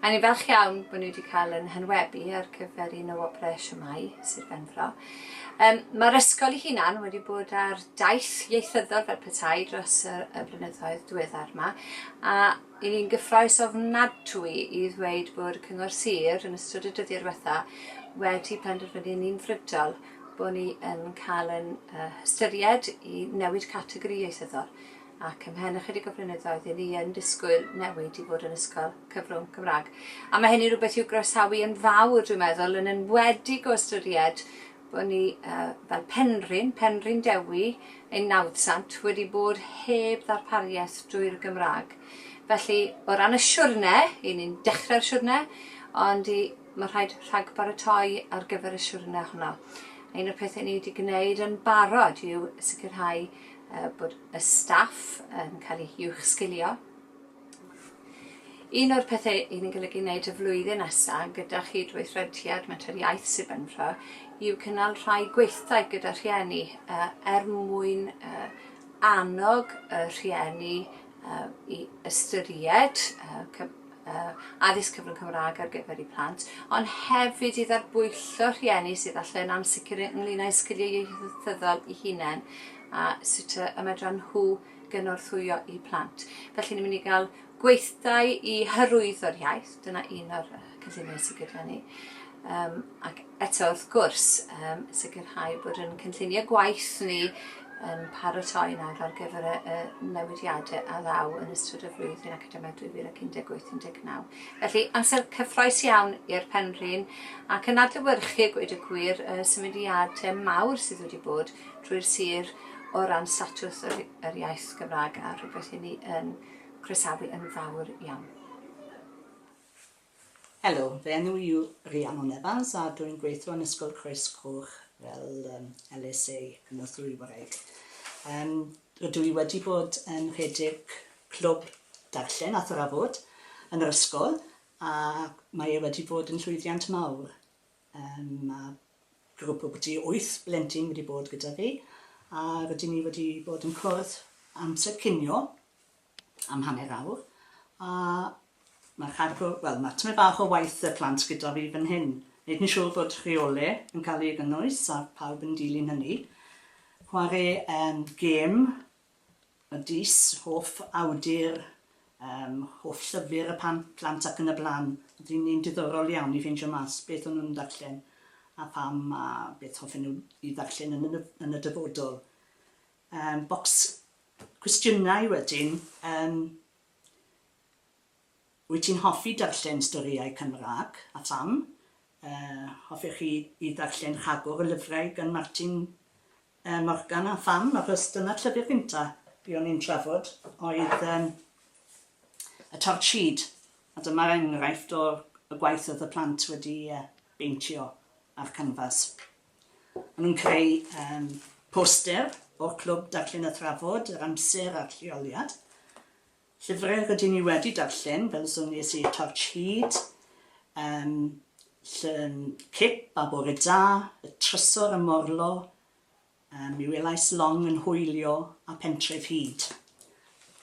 A ni'n falch iawn bod ni wedi cael yn hynwebu ar gyfer un o wobrau Siwmai Sir Benfro. Um, Mae'r ysgol ei hunan wedi bod ar daith ieithyddol fel petai dros y, y blynyddoedd diweddar yma, a i ni'n gyffroes ofnadwy i ddweud bod Cyngor Sir yn ystod y dyddiau diwetha wedi penderfynu yn unfrydol bod ni yn cael yn uh, hystyried i newid categori ieithyddol ac ymhen ychydig o flynyddoedd i ni yn disgwyl newid i fod yn ysgol cyfrwng Cymraeg. A mae hynny'n rhywbeth i'w groesawu yn fawr, dwi'n meddwl, yn enwedig o ystyried bod ni uh, fel Penrhyn, Penrhyn Dewi, ein nawdsant, wedi bod heb ddarpariaeth drwy'r Gymraeg. Felly, o ran y siwrne, i ni'n dechrau'r siwrne, ond i, mae rhaid rhag baratoi ar gyfer y siwrne honno. Un o'r pethau ni wedi gwneud yn barod yw sicrhau bod y staff yn cael eu uwchsgilio. Un o'r pethau i ni'n golygu wneud y flwyddyn nesaf gyda chydweithrediad Menter Iaith Sir Benfro yw cynnal rhai gweithdai gyda rhieni uh, er mwyn uh, annog y rhieni uh, i ystyried uh, addysg cyfrwng Cymraeg ar gyfer eu plant, ond hefyd i dderbwyllo rhieni sydd allu yn ansicr ynglyn â'u sgiliau ieithyddol i hunain a sut y medran nhw gynorthwyo i plant. Felly ni'n mynd i gael gweithdai i hyrwyddo'r iaith, dyna un o'r cynlluniau sydd gyda ni. Um, ac eto wrth gwrs, um, sicrhau bod yn cynllunio gwaith ni yn paratoi nawr ar gyfer y, y newidiadau a ddaw yn ystod y flwyddyn academaidd 2018-19. Felly, amser cyffroes iawn i'r penrhyn ac yn adlywyrchu gweud y gwir y symudiadau mawr sydd wedi bod drwy'r sir o ran statws yr, yr iaith Gymraeg a rhywbeth i ni yn croesawu yn fawr iawn. Helo, fy enw i yw Rhiannon Evans a dw i'n gweithio yn Ysgol Croes Coch fel LSA, Cynorthwy Wraig. Rydw i wedi bod yn rhedeg clwb darllen a thrafod yn yr ysgol ac mae e wedi bod yn llwyddiant mawr. Mae grwp o byti wyth blentyn wedi bod gyda fi a rydyn ni wedi bod yn cwrdd amser cinio am hanner awr a mae'r cargo, wel mae tymed bach o waith y plant gyda fi fan hyn, wneud yn siŵr fod rheolau yn cael ei gynnwys a pawb yn dilyn hynny. Chwarae um, gêm y dis, hoff awdur, um, hoff llyfr y pan, plant ac yn y blaen. Oedd hi'n un diddorol iawn i ffeindio mas beth o'n nhw'n darllen a pam a beth hoffen nhw i ddarllen yn y, yn y dyfodol. Yym, bocs cwestiynau wedyn, yym, wyt ti'n hoffi darllen storïau Cymraeg, a pham? Yy, hoffech chi i ddarllen rhagor o lyfrau gan Martin yy Morgan, a pham? Achos dyna'r llyfr gynta' fi o'n i'n trafod oedd yym y Torch Seed, a dyma'r enghraifft o'r y gwaith oedd y plant wedi yy beintio ar canfas. Maen nhw'n creu yym poster o'r Clwb Darllen a Thrafod yr amser a'r lleoliad. Llyfrau rydyn ni wedi darllen, fel y sonies i, Torch Hud, um, Llyn Cip a Bore Da, Y Trysor a Morlo, um, Mi welais Long yn hwylio a Pentref Hud.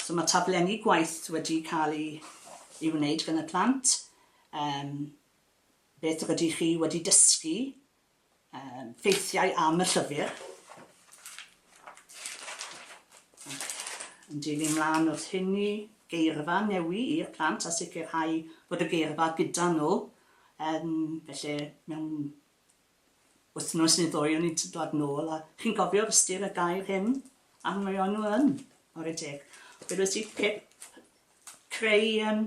So mae taflenni gwaith wedi cael ei, ei wneud gan y plant. Um, Beth rydych chi wedi dysgu am ffeithiau am y llyfr? Yn dilyn mlaen wrth hynny, geirfa newi i'r plant a sicrhau bod y geirfa gyda nhw, felly mewn Wythnos neu ddwy o'n i'n dod nôl a chi'n gofio ystyr y gair hyn? A mae o'n nhw yn, ar y deg. Fe roedd ti pip creu um,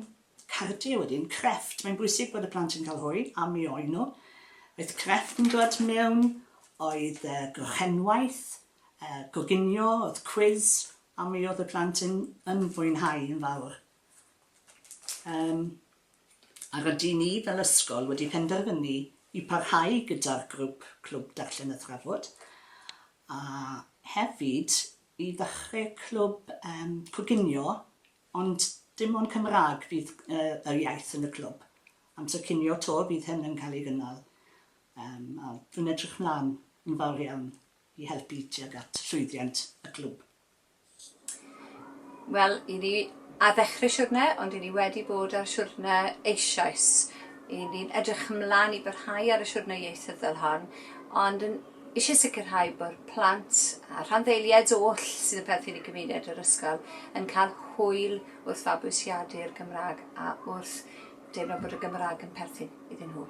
cardiau wedyn, crefft. Mae'n bwysig bod y plant yn cael hwy, a mi oen nhw. Oedd crefft yn dod mewn, oedd uh, grochenwaith, uh, goginio, oedd cwiz, a mi oedd y plant yn, yn fwynhau yn fawr. Um, a rydyn ni fel ysgol wedi penderfynu i parhau gyda'r grwp Clwb Darllen a Thrafod, a hefyd i ddechrau clwb yym coginio, ond dim ond Cymraeg fydd yr iaith yn y clwb. Amser cinio 'to fydd hyn yn cael ei gynnal, yym a dwi'n edrych mlaen yn fawr iawn i helpu tuag at llwyddiant y clwb. Wel, i ni ar ddechrau siwrne, ond i ni wedi bod ar siwrne eisoes. I ni'n edrych ymlaen i barhau ar y siwrne ieithyddol hon, ond yn eisiau sicrhau bod plant a rhanddeiliaid oll sydd yn perthyn i gymuned yr ysgol yn cael hwyl wrth fabwysiadu'r Gymraeg a wrth deimlo bod y Gymraeg yn perthyn iddyn nhw.